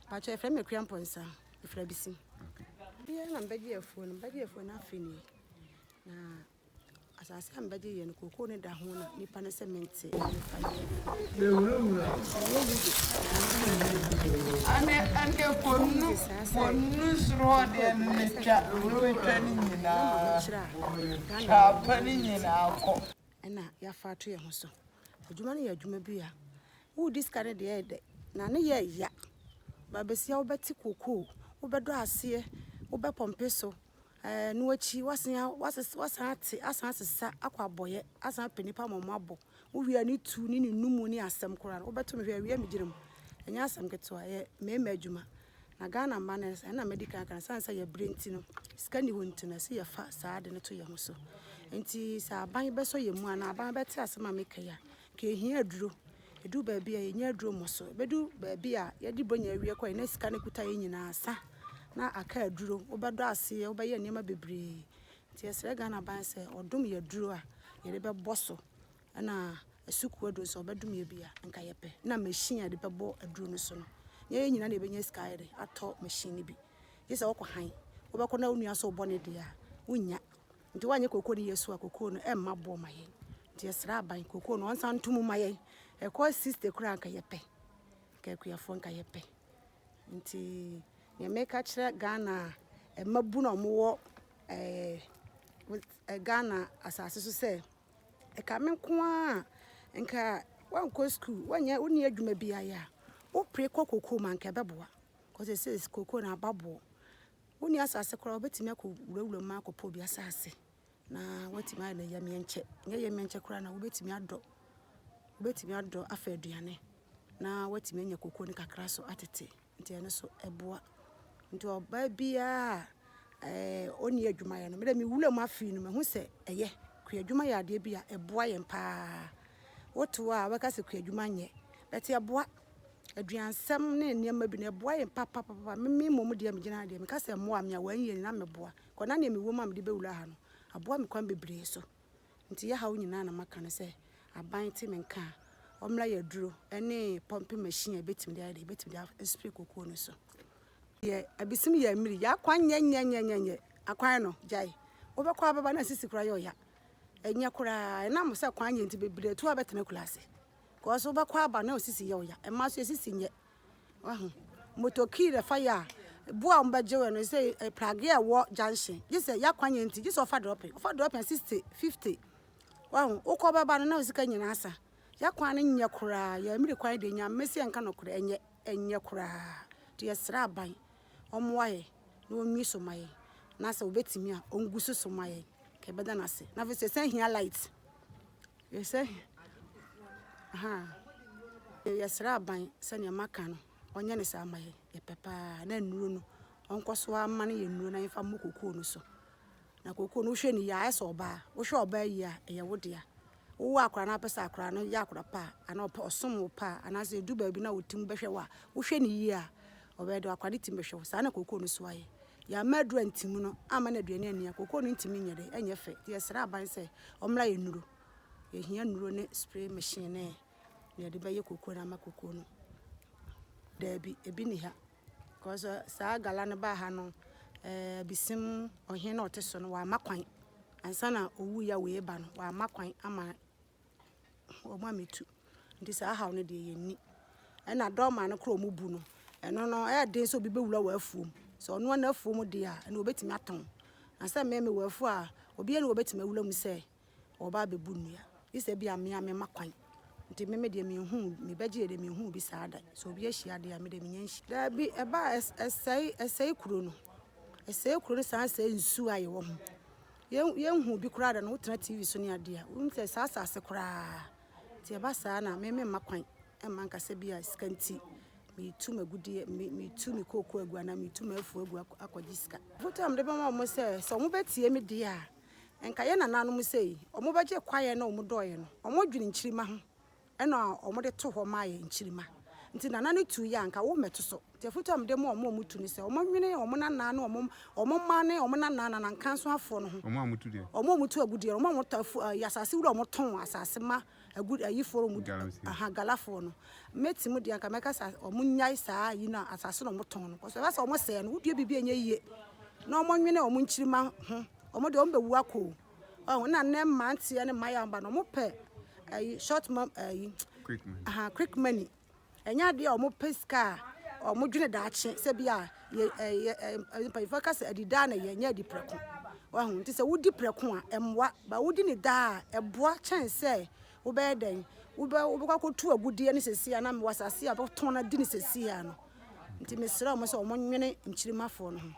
Pacho efra me kura mponsa. Efra bisi. Okay. Bia na mbɛgye afuo no, mbɛgye afuo no afi ni. Na asase a mbɛgye yɛ no koko ne da ho na nipa ne sɛ mente nipa yɛ. Ane ane konu konu soro deɛ no ne twa wuro twa ne nyinaa twa pa ne nyinaa kɔ. na yɛafa ato yɛn ho so. Adwuma no yɛ adwuma bi a woredi sika no deɛ ɛyɛ dɛ na ne yɛ ya. Babesia wobɛte kokoo, wobɛdɔ aseɛ, wobɛpɔmpe so, ɛɛ eh, no akyi wasan wasan ate asan asesa akɔ abɔyɛ asan apɛ nipa ma wɔn abɔ. Wowia ne tu ne ne numu ne asɛm koraa no wobɛto me hwɛ awia megyina mu. Ɛnyɛ asɛm ketewa, ɛyɛ mmarima adwuma. Na Ghana mma no nsa, ɛna madi kan aka no, ɛsiane sɛ yɛbrɛ nti no, sika nni hɔ nti no, ɛsɛ yɛfa saa ade no to yɛn ho so. Nti sɛ aban bɛsɔ yɛn mu anaa aban bɛte asɛm a meka yi a, nka yɛhia aduro. Ɛdu baabi a yɛnya aduro mmɔ so. Ɛbɛdu baabi a yɛde bronya awie kɔ yɛ na sika no kuta yɛn nyinaa sa na aka aduro. Wobɛdɔ aseɛ, wobɛyɛ nneɛma bebree. Nti yɛsrɛ Ghana aban sɛ ɔdom yɛn aduro a yɛde bɛbɔ so Ɛna asukuu aduro nso ɔbɛdum yɛ bi a nka yɛ pɛ na machine a yɛde bɛbɔ aduro no so no nyɛ yɛ nyina na yɛbɛnya sika yɛde atɔ machine no bi gye sɛ wɔkɔ han wobɛkɔ na onua so bɔ ne deɛ a wonnya nti woanyɛ kokoo no yɛ so a kokoo no ɛmma boɔ ma yɛn nti yɛsrɛ aban kokoo no ɔnsan nto mu ma yɛn ɛkɔ 60 koraa nka yɛ pɛ nka akuafoɔ nka yɛ pɛ nti nea meka kyerɛ Ghana ɛma bu na ɔmo wɔ ɛɛ Ghana asase so sɛ Ɛka me nko ara a, nka woankɔ sukuu, woanyɛ, wonni adwuma bi ayɛ a, wopere kɔ kokoo mu a, nka ɛbɛboa. Kɔ sese kokoo no aba boɔ. Wonni asase koraa, wobɛtumi akɔ wurawura mu akɔpɔ obi asase na woatumi ayɛ no yɛmiɛnkyɛ. Nyɛ yɛmiɛnkyɛ koraa na wobɛtumi adɔ, wobɛtumi adɔ afa aduane na woatumi anya kokoo no kakra so atete. Nti ɛno nso ɛboa. Nti ɔbaa biara a ɔnni adwumayɛ no, me deɛ me wuram afe yi no mahu sɛ ɛyɛ. Kuadwuma yɛ adeɛ bi a ɛboa yɛn paa. Wote hɔ a wobɛka sɛ kuadwuma nyɛ, but ɛboa. Aduansɛm ne nneɛma bi no ɛboa yɛn papapapa. Me me mmom deɛ megyina ha deɛ meka sɛ ɛmmoaa me a, wɔannyɛ ni na meboa. Kɔ na deɛ mewɔ mu a mede bɛwura ha no, aboa me kwan bebree so. Nti yɛ haw nyinaa na maka no sɛ aban te me nka a ɔmmra yɛ aduro ne pumping machine a ɛbɛtumi de ayɛ dɛ ɛbɛtumi de aspray kokuo no so deɛ abisim yɛ mmiri yɛ akwan nyɛ nyɛ nyɛ nyɛ nyɛ akwan no gyae wobɛkɔ abɛba na sisi koraa yɛ ɔya ɛnyɛ koraa ɛnam sɛ kwan nyɛ nti bebree to abɛtena kula ase kɔɔ so wobɛkɔ aba na osisi yɛ ɔya ɛma so yɛ sisi nyɛ Wahu? Motor key na ɛfa yɛ a, bo a wɔbɛgye wo no, sɛ eh, prage a ɛwɔ junction, gye sɛ y'akwan yɛ nti, gye sɛ ɔfa drop, ɔfa drop a 60, 50. Wahu? Wokɔ bɛba no na wo sika nyinaa sa. Y'akwan no nyɛ koraa, yɛ mmiri kwan deɛ, Nyame se yɛnka nokorɛ, ɛnyɛ, ɛnyɛ koraa. Nti yɛsrɛ aban, ɔmmoa yɛn na ɔnwie so ma yɛn, na sɛ ɔbɛtumi a, ɔngu so so ma yɛn, nka yɛbɛda no ase. Na afei nso yɛsan hia light. Yɛsan hia aha. Yɛsrɛ aban sɛnea maka no, ɔnyɛ no saa ma yɛn. Yɛpɛ paa na nnuro no, ɔnkɔ so ara mma no yɛ nnuro na yɛmfa mmɔ kookoo no so. Na kookoo no wohwɛ ne yie a, ayɛ sɛ ɔbaa. Wohwɛ ɔbaa yie a, ɛyɛ wo dea. wowɔ akora no apɛ sɛ akora no yɛ akora pa anaa ɔpɛ ɔsom wo pa anaasɛ edu baabi na otim bɛhwɛ wo a wohwɛ no yie a ɔbɛyɛ dɛ akora no tim bɛhwɛ wo saa na kookoo no so ayɛ yɛama aduru antim no ama no aduane anni a kookoo no ntumi nyɛ dɛ ɛnyɛ fɛ nti yɛsrɛ aban sɛ ɔmmra yɛ nnuro yɛhia nnuro ne spray machine ne na yɛde bɛyɛ kookoo no ama kookoo no daabi ebi ni ha Kɔsɛ saa gala no baa ha no ɛɛ abisim ɔhen na ɔte so no wama kwan ansa na owu ya wei ba no wama kwan ama wɔn a metu nti saa haw no deɛ yɛn ni ɛna dɔɔma no koro wɔn bu no ɛno no ɛyɛ den sɛ obi bɛwura wɔ afuom sɛ ɔno na afuom deɛ a ɛna obetumi atɔn na sɛ mmɛmɛ wɔ afuo a obi ɛna obetumi awura mu sɛ wɔba abɛbu nnua. Gye sɛ ebia me ara mema kwan. Nti me me deɛ menhuu, mebɛgye yɛ deɛ menhuu bi saa da. Sɛ obi ahyia deɛ a, me deɛ mennya nhyiaeɛ. Daabi, ɛba a, ɛsɛe, ɛsɛe kuro no. Ɛsɛe kuro no san sɛe nsuo a yɛwɔ ho. Yɛn, yɛnhuu bi koraa da no, wotena TV so ne adeɛ a, wonim sɛ saa asase koraa. Nti ɛba saa no a, me memma kwan mma nka sɛ bi a sika nti metu m'agudeɛ, me, metu me kooko agu anaa metu m'afuo agu akɔgye sika. Afotu a mede bɛma wɔn sɛ, sɛ wɔbɛtie me deɛ a, Nka yɛn nananom sei, wɔbɛgye kwaeɛ na wɔdɔeɛ no, wɔdwene nkyirimma ho na wɔde to hɔ ma yɛn, nkyirimma. Nti nana no tuiɛ a, nka wommɛto so. Nti afotu a mede ma wɔn a wɔtu no sɛ, wɔnwene wɔn nana ne wɔn mma ne wɔn nana, nanankansoafoɔ no ho. Wɔn a wɔtu deɛ. Wɔn a wɔtu agudeɛ no, wɔn a wɔtɔ afu, ɛɛ, asase wura a wɔtɔn asase ma agu ayi forum mu Galamsey. de aha galafoɔ no me te mu deɛ nka mɛka sɛ wɔn nyae saa ayi no a asase na wɔn tɔn no kɔsɔ ɛbɛ sɛ wɔn sɛɛ no wodua biribi ɛnyɛ yie na wɔn nwene wɔn nkyirima ho wɔn deɛ wɔn bɛwu akɔ o ɔho na nnɛ mmeranteɛ ne mmayewa ba no wɔn pɛ ayi short mom ayi Quick money. aha quick money Ɛnyɛ adeɛ a wɔpɛ sika a wɔdwene daakye sɛ bi a yɛ ɛyɛ ɛyɛ mpanyinfoɔ ka sɛ adi daa na yɛ nyɛ adi prɛko wahu nti sɛ wodi prɛko a ɛmmoa ba wodi ne daa a ɛboa kyɛn sɛ wobɛyɛ dɛn wobɛ wobɛkɔ akɔtu agudeɛ ne sɛsi anam wɔ asase a wɔtɔn no adi ne sɛsi a no nti mesrɛ wɔn sɛ wɔn nwene nkyirimafoɔ no ho.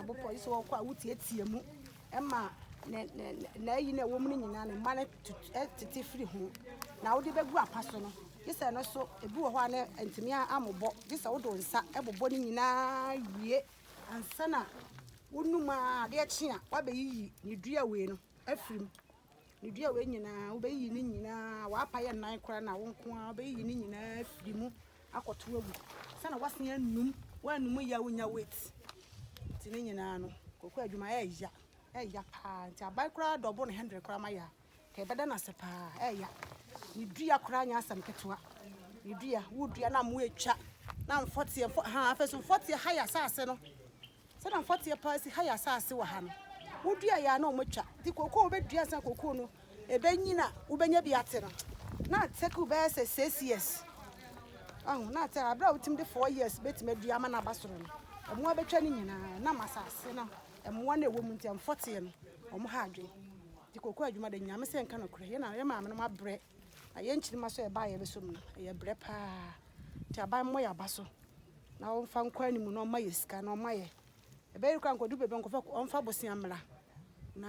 Abopɔ yi sɛ wɔkɔ a wotiatia mu Ɛma ne ne n'ayi na ɛwɔ mu no nyinaa ne mma no tete firi ho na wode bɛgu apa so no gye sɛ no so ebi wɔ hɔ a na ntumi amobɔ gye sɛ wode nsa ɛbobɔ no nyinaa wie ansa na wonum a adeɛ kye a wabɛyiyi ne dua wei no afiri mu. Medua wei nyinaa, wobɛyiyi ne nyinaa, w'apa yɛ nan koraa na wo nko ara, wobɛyiyi ne nyinaa afiri mu akɔto agu. Sɛ na w'asen anum, w'anum yɛ a wonya weight. Nti ne nyinaa no, koko adwuma ɛɛya, ɛɛya paa. Nti aban koraa dɔbo no hundred koraa ma yɛ a, kɛ ɛbɛda no ase paa, ɛɛya. Ne dua koraa nyɛ asɛm ketewa. Ne dua, wodua na mo atwa, na mfɔteɛ, mfɔ, ha afei so mfɔteɛ ha yɛ asase no. Sɛ na mfɔteɛ paa si ha yɛ asaase wɔ ha no, woduaeɛ a na wɔatwa. Nti kooko a wobɛdua ansa na kooko no ɛbɛnyini a wobɛnya bi ate no, na atake bɛyɛ sɛ six years. Ahu, na atɛ aberɛ a wotumi de four years bɛtumi adua ama no aba soro no, ɛmo abɛtwa ne nyinaa. Ɛnam asaase no, mmoa no a ɛwɔ mu nti, mfɔteɛ no, wɔn ha adwene. Nti kooko adwuma deɛ Nyame sɛ nka nokorɛ, yɛn na, yɛn maamenom abrɛ. Na yɛn nkyirimma so a ɛbaa yɛn so mu no, ɛyɛ brɛ paa. Nti aban mmɔ yɛn aba so na ɔmfa nkɔ anim na ɔmma yɛn sika na ɔmma yɛn. Ɛbɛyɛ koraa anka ɔdu baabi a nkɔfo ɔmfa bosea mmra. Na.